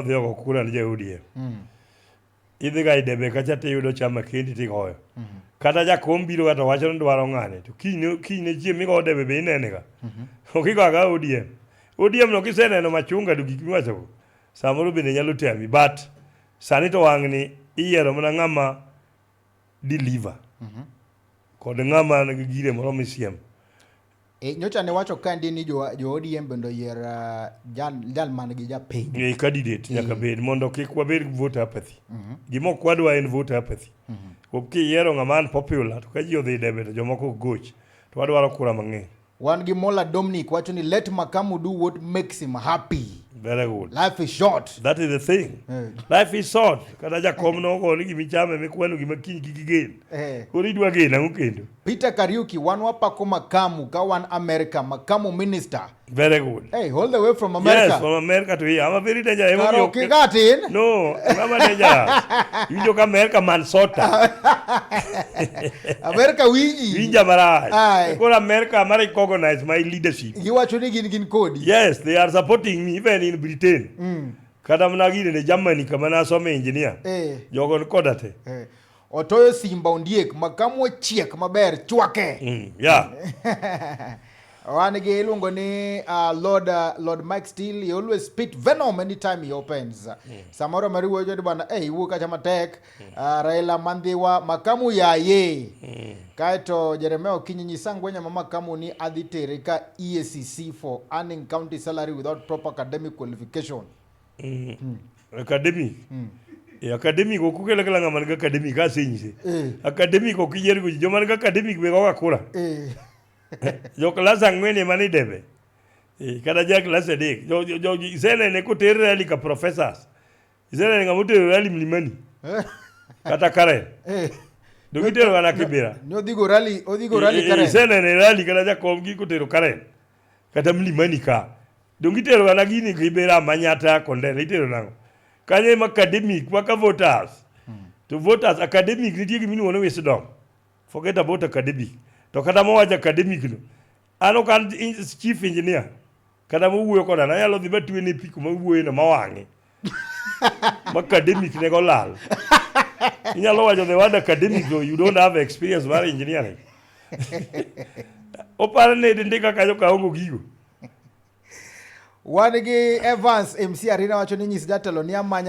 odhi ogo kura ne ja-ODM. Mm. Idhi ga e debe kacha tiyudo chama kendi tigoyo. Mm -hmm. Kata jakom biro ga to wacho ni dwaro ng'ane to kinyne kinyne chieng' migoyo debe be inene ga. Mm -hmm. Okigo aga ODM. ODM no kiseneno machunga to gik miwachogo samoro bende nyalo tami but sani to wang'ni iyiero mana ng'ama deliver. Mm -hmm. Kod ng'ama nigi gire moro misiem. Mm -hmm. E, nyocha ne wacho kandi ni jo, jo ODM bende oyier uh, jal, jal man gi japiny. e candidate nyaka bed mondo kik wabed gi vote apathy gima ok wadwa en vote apathy Kuom kiyiero ng'ama an popular to ka ji odhi debe to jomoko ok goch to wadwaro kura mang'eny Wan gi Mola Dominic wacho ni let Makamu do what makes him happy. very good Life is short. that is the thing Eh. life is short kata jakom nogo ni gimichame mikwano gima kiny kik igen Eh. Koro idwa gena ang'o kendo? Peter Kariuki, wan wapako makamu ka wan America, makamu minister. Very good. Hey, all the way from America. Yes, from America to here. I'm a very dangerous. Karo kigatin? No, I'm a dangerous. you joke America man sota. America winji. Winja maraj. Koro America am recognize my leadership. You are tuning in in code. Yes, they are supporting me even in Britain. Mm. Kata mna gine ne Germany kama na some engineer. Eh. Jogo koda te. Eh. Otoyo Simba Ondiek ma kamwo chiek maber chwake. Mm, yeah. Wan gi iluongo ni uh, Lord, uh, Lord Mike Steele, he always spit venom anytime he opens. Mm. Samoro mariwo jodi bana, eh, hey, iwuo kacha matek. Mm. Uh, Raila Mandhiwa, makamu yaye. Mm. Kaeto Jeremia Okinyi nyisa ngwenya ma makamu ni adhi tere ka EACC for earning county salary without proper academic qualification. Mm. Academic. Mm. E academic ok ukele kala ng'ama nigi academic asenyise. Eh. Academic ok iyier go joma nigi academic be goga kura. Eh. jo klas ang'wen ema ni debe. Eh, kata ja klas adek. Jo jo jo isenene koter rally ka professors. Isenene ng'ama oter rally mlimani. Eh. Kata Karen. Eh. Do gitero gana kibira. Ne odhigo rally, odhigo rally Karen. Isenene rally kata jakom gi kotero Karen. Kata mlimani ka. Donge itero ga na gini gi bera manyata konden itero nango. Kanye ma academic waka voters. Hmm. To voters academic nitie gimi nuone wisdom. Forget about academic. To kata mo waja academic no. Ano kan chief engineer. Kata mo wuyo koda na yalo dhi batwe ni piku ma wuyo no mawangi. Ma academic ne go lal. Inyalo wajo the word academic though you don't have experience mar engineering. Opar ne dinde kaka jo kaongo gigo. Wan gi Evans MC Arina wacho ni nyis jatelo ni amanya